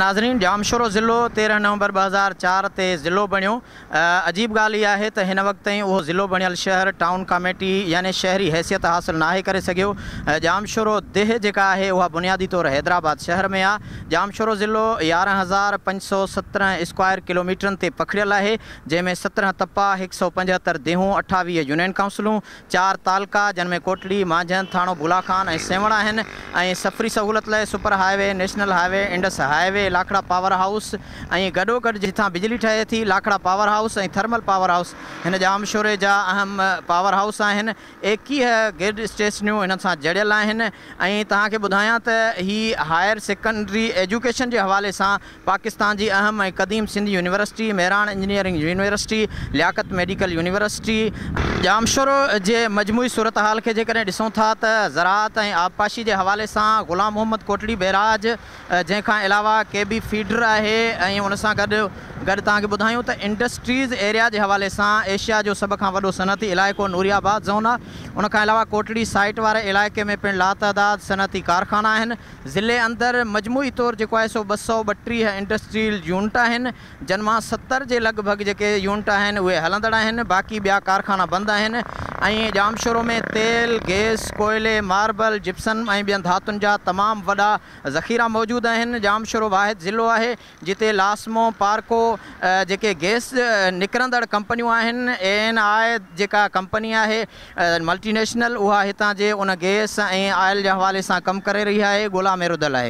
ناظرين ڄامشورو ضلعو تيرهن نومبر ٻه هزار چار تي ضلعو بڻيو عجيب ڳالهه اها آهي ته هن وقت تائين اهو ضلعو بڻيل شهر ٽائون ڪاميٽي يعني شهري حيثيت حاصل ناهي ڪري سگهيو ڄامشورو ديهه جيڪا آهي اها بنيادي طور حيدرآباد شهر ۾ آ ڄامشورو ضلعو يارهن هزار پنج سؤ سترهن اسڪوائر ڪلوميٽرن تي پکڙيل آهي جنهن ۾ سترهن تپا هڪ سؤ پنجهتر ديهون اٺاويهه يونين ڪائونسلون چار تعلقا جن ۾ ڪوٽڙي، مانجهند، ٿاڻو ڀولا خان ۽ سيوهڻ آهن ۽ سفري سهولت لاء super highway, national highway, Indus highway, Lakhra power house ۽ گڏوگڏ جتان بجلي ٺهي ٿي، Lakhra power house ۽ thermal power house هن ڄامشوري جا اهم پاور هائوس آهن. ايڪيهه گرڊ اسٽيشنيون هنن سان جڙيل آهن ۽ توهان کي ٻڌايان ته هي هائر سيڪنڊري ايجوڪيشن جي حوالي سان پاڪستان جي اهم ۽ قديم Sindh university, Mehran engineering university, Liaquat medical university, Jamshoro جي مجموعي صورتحال کي جيڪڏهن ڏسون ٿا ته زراعت ۽ آبپاشي جي حوالي سان غلام محمد ڪوٽڙي بئراج جنهن کان علاوه ڪي بي فيڊر آهي ۽ ان سان گڏ گڏ توهان کي ٻڌايون ته انڊسٽريز ايريا جي حوالي سان ايشيا جو سڀ کان وڏو صنعتي علائقو نوري آباد زون آهي ان کان علاوه ڪوٽڙي سائيٽ واري علائقي ۾ پڻ لاتعداد صنعتي ڪارخانا آهن ضلعي اندر مجموعي طور جيڪو آهي سو ٻه سؤ ٻٽيهه انڊسٽريل يونٽ آهن، جن مان ستر جي لڳ ڀڳ جيڪي يونٽ آهن اهي هلندڙ آهن، باقي ٻيا ڪارخانا بند آهن ۽ ڄامشورو ۾ تيل، گئس، ڪوئلي، ماربل، جپسن ۽ ٻين ڌاتن جا تمام وڏا ذخيرا موجود آهن. ڄامشورو واحد ضلعو آهي، جتي لاسمو، پارڪو جيڪي گئس نڪرندڙ ڪمپنيون آهن، اي اين آء جيڪا ڪمپني آهي ملٽي نيشنل اها هتان جي ان گئس ۽ آئل جي حوالي سان ڪم ڪري رهي آهي، ڳولا ۾ رڌل آهي.